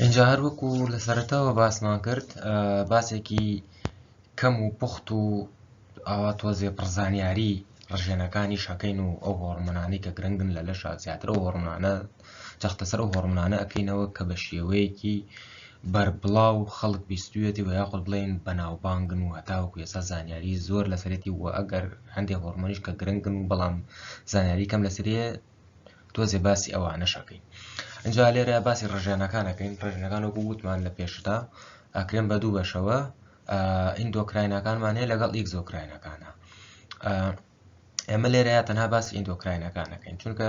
ئینجا هەر وەکو لە سەرەتاوە باسمان کرد باسێکی کەم و پوخت و ئاوا تۆزێ پڕزانیاری ڕژێنەکانی شەکەین و ئەو هۆڕمنانی کە گرنگن لە لەشا زیاتر و هۆڕمانە جەختەسەر و هۆڕمنانە ئەکەینەوە کە بە شێوەیەکی بەربڵا و خەڵک بیستوێتی و یاخود بڵێن بەناوبانگن و هەتاوەکو ێسا زانیاری زۆر لەسەرێتی و ئەگەر هەندێ هۆرمۆنیش کە گرنگن و بەڵام زانیاری کەم لەسرێ تۆزێ باسی ئەوانەشەکەین ئەجا لێرە باسی ڕژێنەکانەکەین ڕژێنەکان وەکو وتمان لە پێشدا ئاکرێن بە دوو بەشەوە ئیندۆکراینەکانمان هەیە لەگەڵ ئیکزۆکراینەکانە ئێمە لێرەیە تەنها باسی ئیندۆکراینەکانەکەین چونکە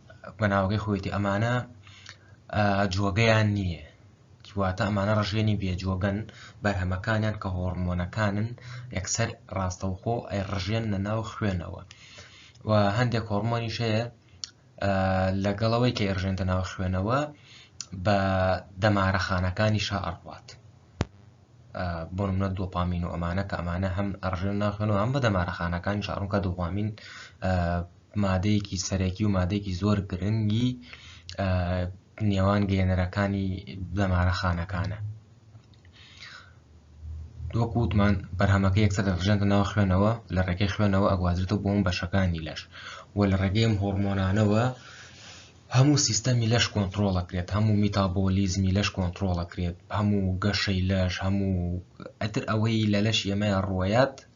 بەناوەکەی خۆیەتی ئەمانە جۆگەیان نییە واتە ئەمانە ڕژێنی بێجۆگەن بەرهەمەکانیان کە هۆڕمۆنەکانن یەکسەر ڕاستەوخۆ ئەی ڕژێن لە ناو خوێنەوە و هەندێک هۆڕمۆنیش هەیە لەگەڵەوەی کە ئێرژێنتە ناو خوێنەوە بە دەمارەخانەکانی شا ئەڕوات بۆ منە دۆپامین و ئەمانە کە ئەمانە هەم ئەڕژێن ناخێن و هەم بە دەمارەخانەکانی شارونکە دووامین مادەیەکی سەرەکی و مادەیەکی زۆر گرنگی نێوان گەێنەرەکانی دەمارەخانەکانە وەکو وتمان بەرهەمەکە یەکسەر دەڕژێنتە ناو خوێنەوە لە ڕێگەی خوێنەوە ئەگوازرێتەوە بۆم بەشەکانی لەش و لە ڕێگەیم هۆرمۆنانەوە هەموو سیستەمی لەش کۆنتترۆڵەکرێت هەموو میتابۆلیزمی لەش کۆنتترۆڵەکرێت هەموو گەشەی لەش هەموو ئەتر ئەوەی لە لەش ئێمەیان ڕوایەت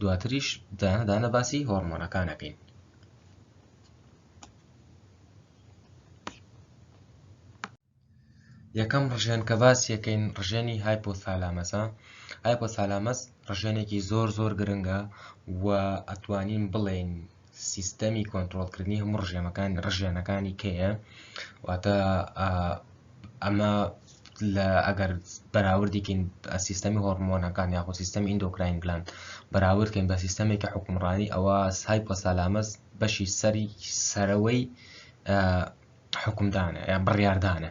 دواتریش دانە دانە باسی هۆرمۆنەکانەکەین یەکەم ڕژێن کە باس یەکەین ڕژێنی هایپۆثالامەسە هایپۆثالامەس ڕژێنێکی زۆر زۆر گرنگە و ئەتوانین بڵێین سیستەمی کۆنتترۆلکردنی هەموو ڕژێمەکان ڕژێنەکانی کەیە واتە ئەمە لە ئەگەر بەراوردیکەین سیستەمی هۆرمۆنەکان یاخۆ سیستەمی ئیندۆکراین گلان بەراوردکەین بە سیستەمێکی حکومڕانی ئەوە سای پۆسالامەز بەشی سەری سەرەوەی حکومدانە یا بڕاردانە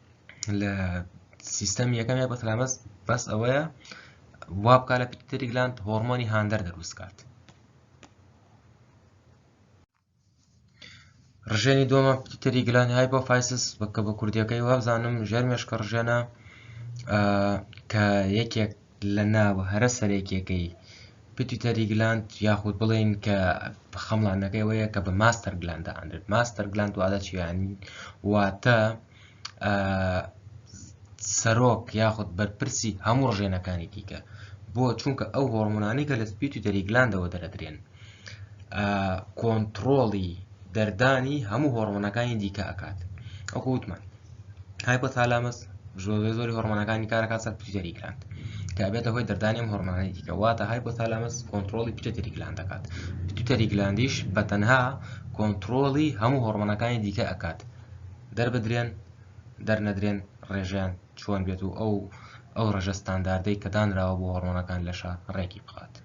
لە سیستەم یەکەم یا بەتەلامەس بەس ئەوەیە وا بکە لە پیتری گلاند هۆرمۆنی هاندەر دەروست کات ڕژێنی دۆمە پیتری گلان های بۆ فایسس بکە بە کوردیەکەی وابزانم ژێر مێشکە ڕژێنە کە یەکێک لە ناوە هەرە سەرەکیەکەی پیتوتەری گلاند یاخود بڵێین کە خەمڵانەکەی وەیە کە بە ماستەر گلاند ئەندرێت ماستەر گلاند وادە چیانی واتە سەرۆک یاخود بەرپرسی هەموو ڕژێنەکانی دیکە بۆ چونکە ئەو هۆرمۆنانی کە لە پیتوتەری گلاندەوە دەرەدرێن کۆنتڕۆڵی دەردانی هەموو هۆڕمۆنەکانی دیکە ئەکات ئەوکە وتمان هایپۆتالامەس زۆری زۆری هۆڕمانەکانی کارەکە سەر پیتەری گراند کە بێتە هۆی دەردانیم هۆرمانەی دیکە واتە های بۆتالامەس کۆنتترۆلی پیتەری گلاند دەکات پیتەری گلاندیش بە تەنها کۆنتترۆلی هەموو هۆرمانەکانی دیکە ئەکات دەربدرێن دەرنەدرێن ڕێژیان چۆن بێت و ئەو ئەو ڕژە ستانداردەی کە دانراوە بۆ هۆرمۆنەکان لەشە ڕێکی بخات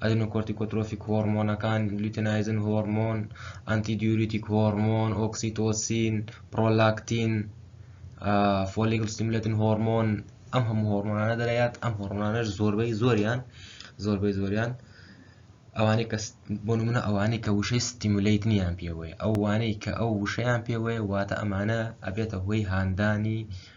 ئەدینۆکۆرتیکۆترۆفیک هۆڕمۆنەکان، لوتینایزن هۆڕمۆن، ئەنتی دیوریتیک هۆڕمۆن، ئۆکسیتۆسین، پڕۆلاکتین، فۆلیکل ستیمولێتن هۆڕمۆن، ئەم هەموو هۆڕمۆنانە دەرەیات، ئەم هۆڕمۆنانەش زۆربەی زۆریان زۆربەی زۆریان ئەوانەی کە بۆ نمونە ئەوانەی کە وشەی ستیمولیت نیان پێوەیە ئەوانەی کە ئەو وشەیان پێوەیە واتە ئەمانە ئەبێتە هۆی هاندانی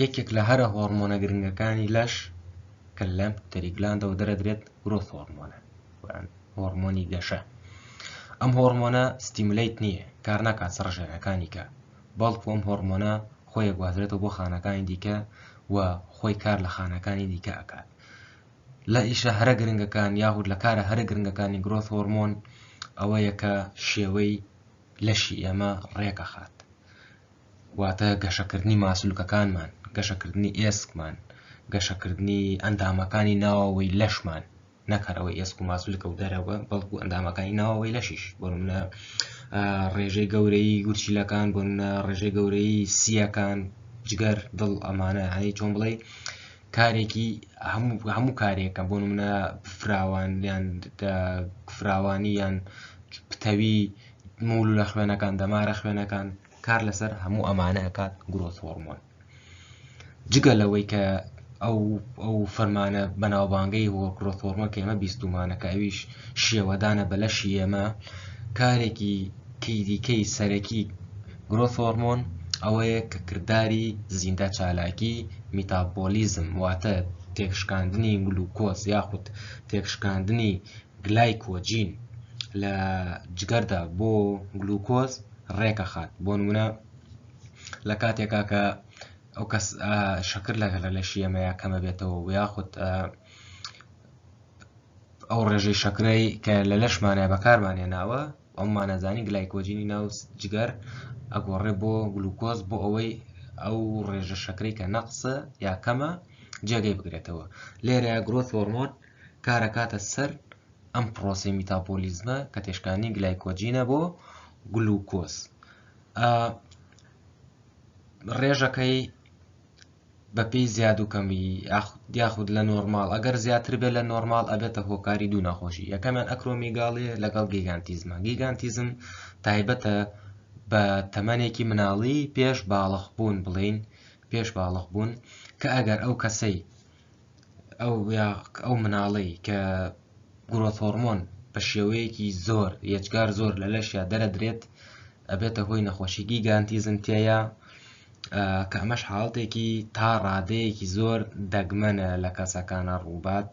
یەکێک لە هەرە هۆرمۆنە گرنگەکانی لەش کە لەم تەری گلاندەوە دەرەدرێت گرۆث هۆرمۆنە هۆرمۆنی گەشە ئەم هۆرمۆنە ستیملیت نییە کار ناکات سڕژێنەکانی کە بەڵکو ئەم هۆرمۆنە خۆی گوازرێتەوە بۆ خانەکانی دیکە و خۆی کار لە خانەکانی دیکە ئەکات لە ئیشە هەرە گرنگەکان یاخود لە کارە هەرە گرنگەکانی گرۆث هۆرمۆن ئەوەیە کە شێوەی لەشی ئێمە ڕێکەخات واتە گەشەکردنی ماسولکەکانمان، گەشەکردنی ئێسکمان، گەشەکردنی ئەندامەکانی ناوەوەی لەشمان، نەک هەر ئەوەی ئێسک و ماسولکە و دەرەوە بەڵکو ئەندامەکانی ناوەوەی لەشیش بۆنمونە ڕێژەی گەورەی گورچیلەکان بۆنە ڕێژەی گەورەی سیەکان جگەر دڵ ئەمانە هەی چۆن بڵێ کارێکی هەموو کارێکە بۆ منە فراوان یان فراوانی یان پتەوی مول لە خوێنەکان دەمارە خوێنەکان کار لەسەر هەموو ئەمانە ئەکات گرۆس هۆرمۆن جگە لەوەی کە ئەو ئەو فەرمانە بەناوبانگەی هۆ گرۆس هۆرمۆن کە ئێمە بیستومانە کە ئەویش شێوەدانە بە لەشی ئێمە کارێکی کیدیکەی سەرەکی گرۆس هۆرمۆن ئەوەیە کە کردداری زیندە چالاکی میتابۆلیزم واتە تێکشکاندنی گلوکۆز یاخود تێکشکاندنی گلایکۆجین لە جگەردا بۆ گلوکۆز ڕێکەخات بۆ نمونە لە کاتێکا کە ئەو کەس شەکر لەگە لە لەشی ئەمەیە کەمە بێتەوە و یاخود ئەو ڕێژەی شەکرەی کە لە لەشمانە بەکارمانێ ناوە ئەممانەزانی گلایکۆجینی ناو جگەر ئەگۆڕێ بۆ گلوکۆز بۆ ئەوەی ئەو ڕێژە شەکرەی کە نەقسە یا کەمە جێگەی بگرێتەوە لێرە گرۆ فۆرمۆن کار ئەکاتە سەر ئەم پرۆسەی میتاپۆلیزمە کە تێشکانی گلایکۆجینە بۆ گلوکۆز ڕێژەکەی بەپی زیاد و کەمی یاخود لە نۆرمال ئەگەر زیاتر بێت لە نۆرمال ئەبێتە هۆکاری دوو ناخۆشی یەکەمیان ئەکرۆمیگاڵێ لەگەڵ گیگانتیزمە گیگانتیزم تایبەتە بە تەمەێکی مناڵی پێش باڵخ بوون بڵین پێش باڵخ بوون کە ئەگەر ئەو کەسەی ئەو یا ئەو مناڵەی کە گرۆث هۆرمۆن بە شێوەیەکی زۆر یەجگار زۆر لە لەشیا دەرەدرێت ئەبێتە هۆی نەخۆشی گیگانتیزم تێیە کە ئەمەش حاڵتێکی تا ڕادەیەکی زۆر دەگمەنە لە کەسەکانە ڕووبات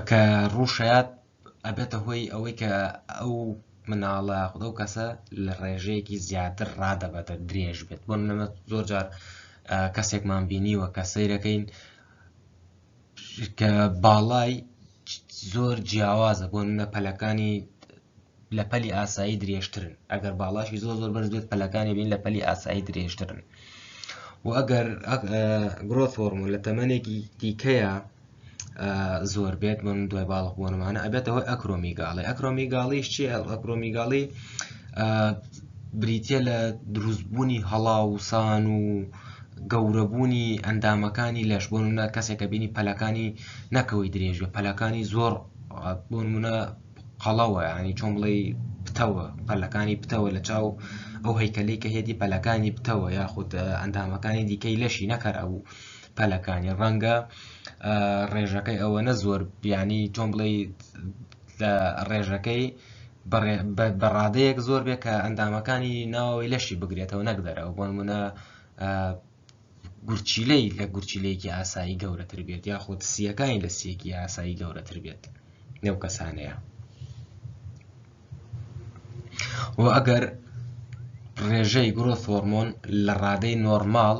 کە ڕووشات ئەبێتە هۆی ئەوەی کە ئەو مناڵە یاخود ئەو کەسە لە ڕێژەیەکی زیاتر ڕادەبەدە درێژ بێت بۆ منەمە زۆر جار کەسێکمان بینیوە کە سەیرەکەین کە باڵای زۆر جیاوازە بۆ منە پەلەکانی لە پەلی ئاسایی درێژترن ئەگەر باڵاشی زۆر زۆر بەرز بێت پەلەکانی بین لە پەلی ئاسایی درێژترن و ئەگەر گرۆ فۆرمۆ لە تەمەێکی دیکەیە زۆر بێت من دوای باڵق بوونمانە ئەبێت ئەوەی ئەکرۆمیگاڵی ئەکرۆمیگاڵیش چی ئەکرۆمیگاڵی بریتە لە دروستبوونی هەڵاوسان و گەورەبوونی ئەندامەکانی لەش بۆ منە کەسێکە بینی پەلەکانی نەکەوەی درێژە پەلەکانی زۆر بۆ منە قەڵەوە ینی چۆن بڵێ پتەوە پەلەکانی پتەوە لە چاو ئەو هەیکەلی کە هێدی پەلەکانی پتەوە یاخود ئەندامەکانی دیکەی لەشی نەکەر ئەوو پەلەکانی ڕەنگە ڕێژەکەی ئەوەنە زۆر بیانی چۆن بڵێ لە ڕێژەکەی بەڕادەیەک زۆر بێ کە ئەندامەکانی ناوەوەی لەشی بگرێتەوە نەکدەرەوە بۆن منە گورچیلەی لە گورچیلەیەکی ئاسایی گەورەتر بێت یاخود سیەکانی لە سیەکی ئاسایی گەورەتر بێت نێو کەسانەیە و ئەگەر ڕێژەی گرۆ فۆرمۆن لە ڕادەی نۆرمال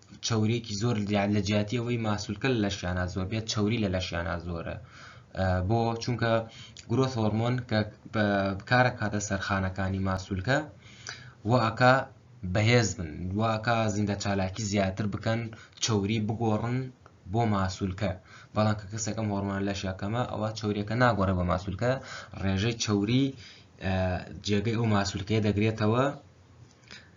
چەوریەکی زۆر دیان لە جیاتی ئەوەی ماسولکە لە لەشیانە زۆر بێت چوری لە لەشیانە زۆرە بۆ چونکە گرۆس هۆرمۆن کە بکارە کاتە سەرخانەکانی ماسولکە واکە بەهێز بن واکە زیندە چالاکی زیاتر بکەن چوری بگۆڕن بۆ ماسولکە بەڵام کە کەسێکم هۆرمان لە شەکەمە ئەوە چوریەکە ناگۆڕێ بە ماسولکە ڕێژەی چوری جێگەی ئەو ماسولکەیە دەگرێتەوە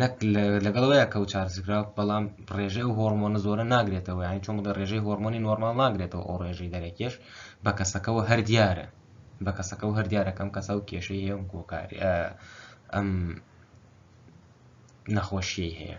نەک لەگەڵ وەیە کەو چارسکراو بەڵام ڕێژەی ئەو هۆرمۆنە زۆرە ناگرێتەوە یانی چۆن بڵێ ڕێژەی هۆرمۆنی نۆرمال ناگرێتەوە ئەو ڕێژەی دەرەکێش بە کەسەکەەوە هەر دیارە بە کەسەکەەوە هەر دیارەکەم کەسە و کێشەی هەیە گۆکاری ئەم نەخۆشیی هەیە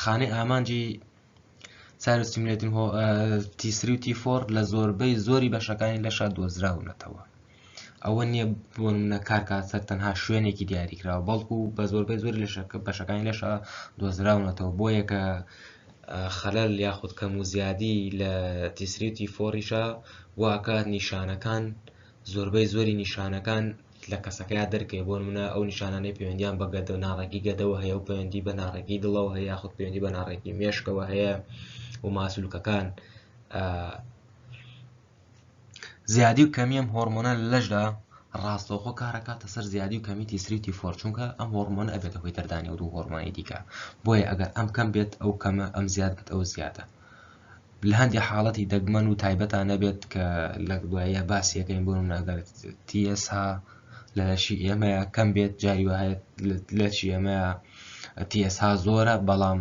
خانەی ئامانجی ساروسیملێتین هۆ تیسری و تیفۆر لە زۆربەی زۆری بەشەکانی لەشا دۆزراونەتەوە ئەوە نییە بۆن منە کارکات سەر تەنها شوێنێکی دیاریکراوە بەڵکو بە زۆربەی زۆری لەشەکە بەشەکانی لەشا دۆزراونەتەوە بۆ یەکە خەلەل یاخود کەم و زیادی لە تیسری و تیفۆریشە واکات نیشانەکان زۆربەی زۆری نیشانەکان لە کەسەکەیا دەرکەوێت بۆ نمونە ئەو نیشانانەی پەیوەندیان بە گەدە ناڕێکی گەدەوە هەیە و پەیوەندی بە ناڕێکی دڵەوە هەیە یاخود پەیوەندی بە ناڕێکی مێشکەوە هەیە و ماسولکەکان زیادی و کەمیەم هۆرمۆنە لەشدا ڕاستەوخۆ کارەکاتە سەر زیادی و کەمی تیسریتی فۆر چونکە ئەم هۆرمۆن ئەبێتە هۆی دەردانی و دوو هۆرمانی دیکە بۆیە ئەگەر ئەم کەم بێت ئەو کەمە ئەم زیاد بێت ئەو زیادە لەهەندێ حاڵەتی دەگمەن و تایبەتا نەبێت کە لە دواییە باسیەکەین بۆ نمونە ئەگەر TSH لە لەشی ئێمەیە کەم بێت جاری وهەیە لەشی ئێمەیە TSH زۆرە بەڵام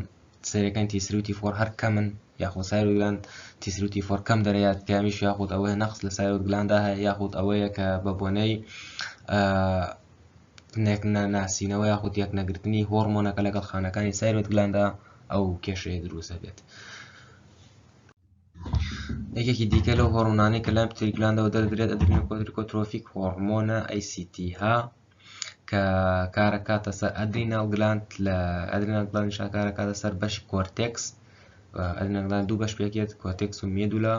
سەرەکان تیسروتی فۆر هەر کەمن یاخۆ سایرۆگلان تیسروتی فۆر کەم دەرەیات کامیش یاخود ئەوەیە نەقص لە سایرۆگلاندا هەیە یاخود ئەوەیە کە بە بۆنەی نەناسینەوە یاخود یەکنەگرتنی هۆڕمۆنەکە لەگەڵ خانەکانی سایرۆت گلاندا ئەو کێشەیە دروست دەبێت. یەکێکی دیکە لەو هۆڕمۆنانەی کە لای پتری گلاندەوە دەردرێت ئەدرینە کۆدرکۆترۆفیک هۆڕمۆنە ACT ها کە کارەکاتە سەر ئەدرینال گلاند لە ئەدرینال گلاند شاکارەکاتە سەر بەشی کۆرتێکس ئەدرینال گلاند دوو بەش پێکێت کۆتێکس و مێدولا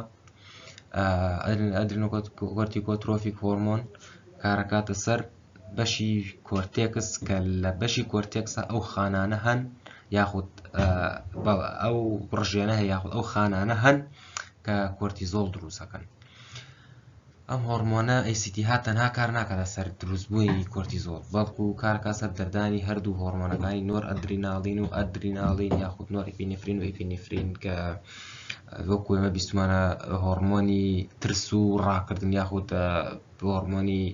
ئەدرنۆکۆرتیکۆترۆفیک هۆرمۆن کارەکاتە سەر بەشی کۆرتێکس کە لە بەشی کۆرتێکسە ئەو خانانە هەن یاخود ئەو ڕژێنە هەیە یاخود ئەو خانانە هەن کە کۆرتیزۆڵ دروستەکەن ئەم هۆڕمۆنە ACTH تەنها کار ناکات لەسەر دروستبوونی کۆرتیزۆڵ، بەڵکو کارکات سەر دەردانی هەردوو هۆڕمۆنەکانی نۆرئەدریناڵین و ئەدریناڵین یاخود نۆرئیپینفرین و ئیپینفرین کە وەکو ئێمە بیستمانە هۆڕمۆنی ترس و ڕاکردن یاخود هۆڕمۆنی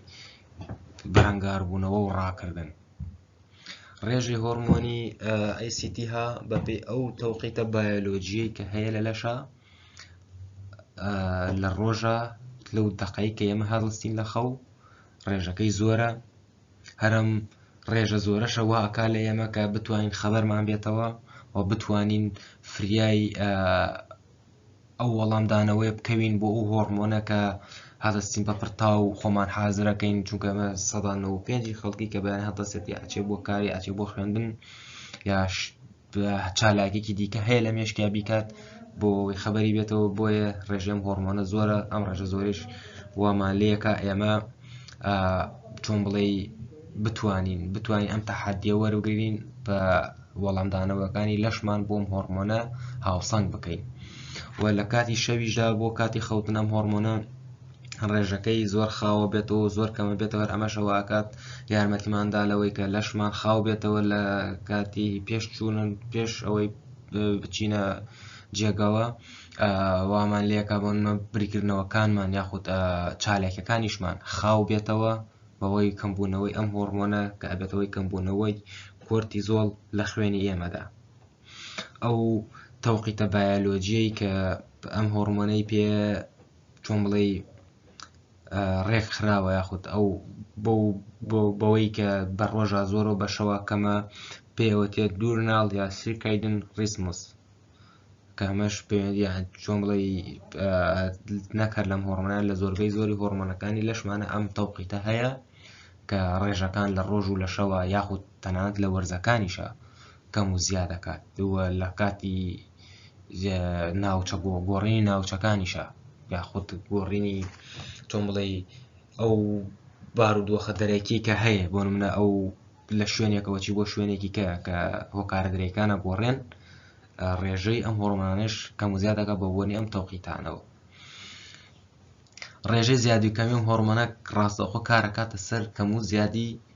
بەرەنگاربوونەوە و ڕاکردن ڕێژەی هۆرمۆنی ئەیسیتیها بەپێی ئەو تەوقیتە بایۆلۆجیەی کە هەیە لە لەشە لە ڕۆژە لەو دەقەی کە ئێمە هەڵستین لە خەو ڕێژەکەی زۆرە هەرم ڕێژە زۆرەشە واکا لە ئێمە کە بتوانین خەبەرمان بێتەوە و بتوانین فریای ئەو وەڵامدانەوەی بکەوین بۆ ئەو هۆڕمۆنە کە هەڵستین بە پرتاو و خۆمان حازرەکەین چونکە ئەمە سەدان و پێنجی خەڵکی کە بەیان هەڵدەسێت یاچێ بۆ کاری ئاچێ بۆ خوێندن یاش چالاکێکی دیکە هەیە لە مێشکیا بیکات بۆ ئەوەی خەبەری بێتەوە بۆیە ڕێژێم هۆرمۆنە زۆرە ئەم ڕێژە زۆریش وامان لەکە ئێمە چۆن بڵێ بتوانین بتوانین ئەم تەحادیە وەرگرین بە وەڵامدانەوەکانی لەشمان بۆم هۆرمۆنە هاوسەنگ بکەین و لە کاتی شەویشدا بۆ کاتی خەوتنەم هۆرمۆنە ڕێژەکەی زۆر خاوە بێتەوە و زۆر کەمە بێتەوە ئەمەشەوە ئاکات یارمەتیماندا لەوەی کە لەشمان خاو بێتەوە لە کاتی پێش چوونن پێش ئەوەی بچینە جێگەوە وامان لەکە بۆنمە بریکردنەوەکانمان یاخود چالاکەکانیشمان خاو بێتەوە بەوەی کەمبوونەوەی ئەم هۆڕمۆنە کە ئەبێتەوەی کەمبوونەوەی کۆرتی زۆڵ لە خوێنی ئێمەدا ئەو تەوقیتە بایەلۆجیەی کە ئەم هۆڕمۆنەی پێ چۆن بڵێی ڕێک خراوە یاخود ئەو بەوەی کە بە ڕۆژە زۆر و بەشەوە کەمە پێوەتێ دوورناڵ یا سیرکایدن ڕیسموس کە ئەمەش چۆن بڵێ نەکرد لەم هۆڕمەنان لە زۆربەی زۆری هۆڕمەنەکانی لەشمانە ئەم تەوقیتە هەیە کە ڕێژەکان لە ڕۆژ و لە شەوە یاخود تەنانەت لە وەرزەکانیشە کەم و زیا دەکات و لە کاتی ناوچە گۆڕینی ناوچەکانیشە یاخود گۆڕینی تۆم بڵێی ئەو بارودۆخە دەرەکی کە هەیە بۆ منە ئەو لە شوێنێکەوە چی بۆ شوێنێکی کە کە هۆکارە درێکانە گۆڕێن ڕێژەی ئەم هۆڕمانش کەم و زیادەکە بە بۆنی ئەم تەوقیتانەوە ڕێژەی زیادی کەمی و هۆرمەنە ڕاستەخۆ کارەکاتە سەر کەم و زیادی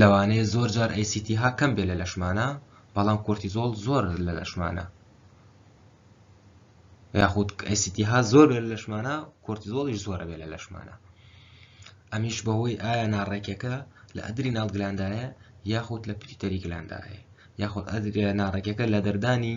لەوانەیە زۆر جار ئەیسیتیها کەم بێ لە لەشمانە بەڵام کۆرتیزۆڵ زۆر لە لەشمانە یاخود ئەیسیتیها زۆر بێ لە لەشمانە کۆرتیزۆڵیش زۆرە بێ لە لەشمانە ئەمیش بەهۆی ئایا ناڕێکەکە لە ئەدری ناڵگلاندایە یاخود لە پیتەری گلاندایە یاخود ئەدرێ ناڕێکەکە لە دەردانی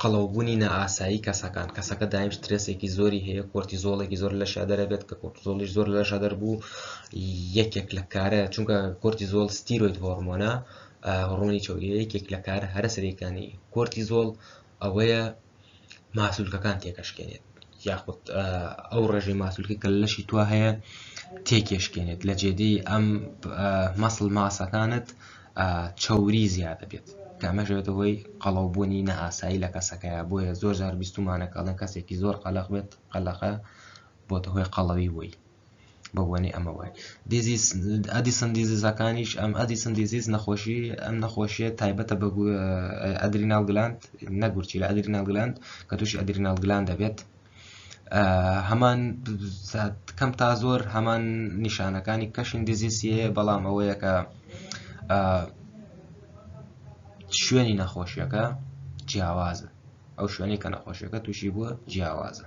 قەڵەوبوونی نائاسایی کەسەکان کەسەکە دایم سترێسێکی زۆری هەیە کۆرتیزۆڵێکی زۆر لەشیا دەرەبێت کە کۆرتزۆڵی زۆر لەشە دەربوو یەکێک لە کارە چونکە کۆرتیزۆڵ ستیرۆید هۆرمۆنە هۆڕۆنی چوری یەکێک لە کار هەرە سەرەکانی کۆرتیزۆڵ ئەوەیە ماسولکەکان تێکەشکێنێت یاخود ئەو ڕێژەی ماسولکە کە لەشی توا هەیە تێکێشکێنێت لە جێدەی ئەم مەسل ماسەکانت چوری زیادە بێت کامەژێتە هۆی قەڵەوبوونی نەئاسایی لە کەسەکەیە بۆیە زۆر جار بیستمانەکەڵێن کەسێکی زۆر قەلق بێت قەلەقە بۆتە هۆی قەڵەوی بووی بە بۆنی ئەمە وای دیزیز ئەدیسن دیزیزەکانیش ئەم ئەدیسن دیزیز نەخۆشی ئەم نەخۆشیە تایبەتە بە ئەدرینال گلاند نەگورچی لە ئەدرینال گلاند کە تووشی ئەدرینال گلاند دەبێت هەمان کەم تا زۆر هەمان نیشانەکانی کەشین دیزیسیە بەڵام ئەوەیە کە شوێنی نەخۆشیەکە جیاوازە ئەو شوێنی کە نەخۆشیەکە تووشی بووە جیاوازە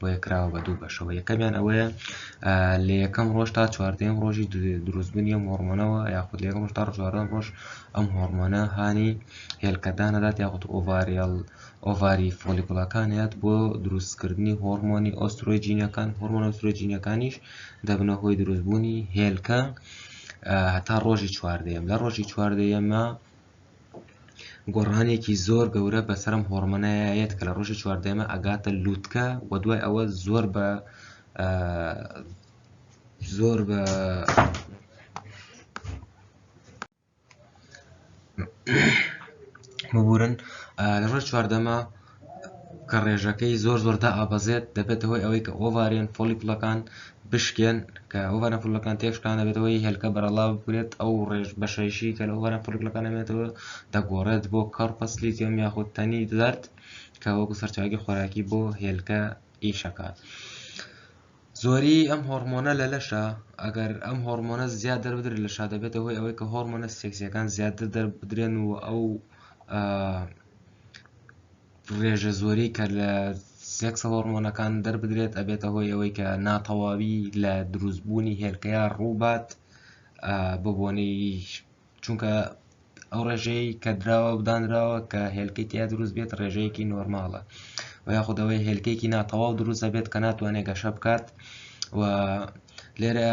بۆیە کراوە بە دوو بەشەوە یەکەمیان ئەوەیە لە یەکەم ڕۆژ تا چواردەم ڕۆژی دروستبوونی ئەم هۆرمۆنەوە یاخود لە ڕۆژ تا ڕژواردەم ڕۆژ ئەم هۆرمۆنە هانی هێلکەدانەدات یاخود ئۆڤریال ئۆڤاری فۆلیکوڵەکانیات بۆ دروستکردنی هۆرمۆنی ئۆسترۆجینەکان هۆرمۆن ئۆسترۆجینەکانیش دەبنە هۆی دروستبوونی هێلکە هەتا ڕۆژی چواردەیەم لە ڕۆژی چواردەیەمە گۆڕانێکی زۆر گەورە بەسەرم هۆڕمەنایا یەت کە لە ڕۆژی چواردەمە ئەگاتە لووتکە و دوای ئەوە زۆر بە زۆر بە ببورن لە ڕۆژ چواردەمە کە ڕێژەکەی زۆر زۆر دائەبەزێت دەبێتە هۆی ئەوەی کە ئۆڤارێن فۆلیکلەکان بشکێن کە ئۆڤارێن فۆلیکلەکان تێکشکان دەبێتە هۆی هێلکە بەرەڵا بکرێت ئەو ڕێژ بەشەیشی کە لە ئۆڤارێن فۆلیکلەکان دەمێنێتەوە دەگۆڕێت بۆ کەڕ پەسلیتیۆم یاخود تەنی زەرد کە وەکو سەرچاوەی خۆراکی بۆ هێلکە ئیشەکات. زۆری ئەم هۆرمۆنە لە لەشە ئەگەر ئەم هۆرمۆنە زیاد دەربدرێت لە شادەبێتە هۆی ئەوەی کە هۆرمۆنە سێکسیەکان زیاتر دەربدرێن و ئەو ڕێژە زۆری کە لە سێکسە هۆرمۆنەکان دەربدرێت ئەبێتە هۆی ئەوەی کە ناتەواوی لە دروستبوونی هێلکەیە ڕووبات بۆ بۆنەی چونکە ئەو ڕێژەی کە دراوە بدانراوە کە هێلکی تیا دروست بێت ڕێژەیەکی نۆرماڵە و یاخودەوەی هێلکێکی ناتەواو دروستە بێت کە ناتوانێت گەشە بکات و لێرە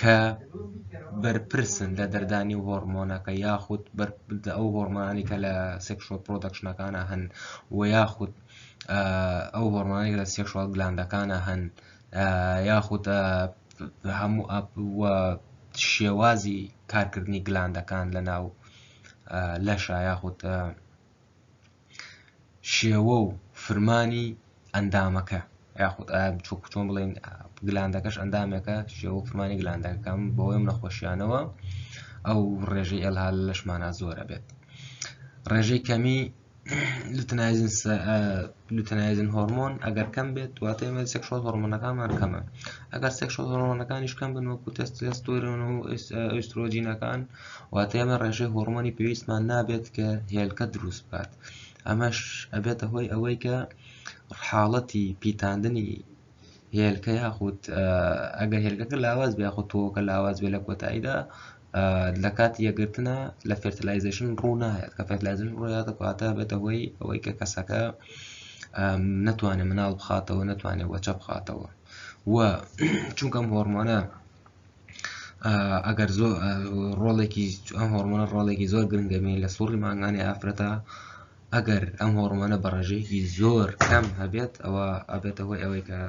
کە بەرپرسن لە دەردانی هۆرمۆنەکە یاخود ئەو هۆرمانی کە لە سێکشۆ پرۆدەکشنەکانە هەن و یاخود ئەو هۆرمانی لە سێکشوال گلاندەکانە هەن یاخود هەموو شێوازی کارکردنی گلاندەکان لە ناو لەشە یاخود شێوە و فرمانی ئەندامەکە یاخود چۆن بڵێن گلاندەکەش ئەندامێکە شێوە و فرمانی گلاندەکەم بەوەی ئەم نەخۆشیانەوە ئەو ڕێژەی ئەلها لەشمانە زۆرە بێت ڕێژەی کەمی لوتنایزن هۆرمۆن ئەگەر کەم بێت دواتە ئمە سێکشۆل هۆرمۆنەکانمان کەمە ئەگەر سێکشۆل هۆرمۆنەکانیش کەم بن وەکو تەستێستۆرن و ئۆسترۆجینەکان واتە ئێمە ڕێژەی هۆڕمۆنی پێویستمان نابێت کە هێلکە دروست بکات ئەمەش ئەبێتە هۆی ئەوەی کە حاڵەتی پیتاندنی هێلکە یاخود ئەگەر هێلکەکە لاواز بێ یاخود تۆکە لاواز بێ لە کۆتاییدا لە کات یەگرتنە لە فێرتلایزیشن ڕوونایەت کە فێرتلایزن ڕویاتە کاتە بێتە هۆی ئەوەی کە کەسەکە نتوانێت مناڵ بخاتەوە نتوانێت وەچە بخاتەوە و چونکەم هۆرمۆنە ئەگەر زۆر ڕۆڵێکی ئەم هۆرمۆنە ڕۆڵێکی زۆر گرنگەبین لە سوڕی مانگانی ئافرەتە ئەگەر ئەم هۆرمۆنە بە ڕێژەیەکی زۆر کەم هەبێت ئەوە ئەبێتە هۆی ئەوەی کە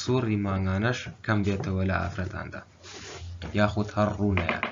سوڕی مانگانەش کەم بێتەوە لە ئافرەتاندا یاخود هەر ڕوونەیات.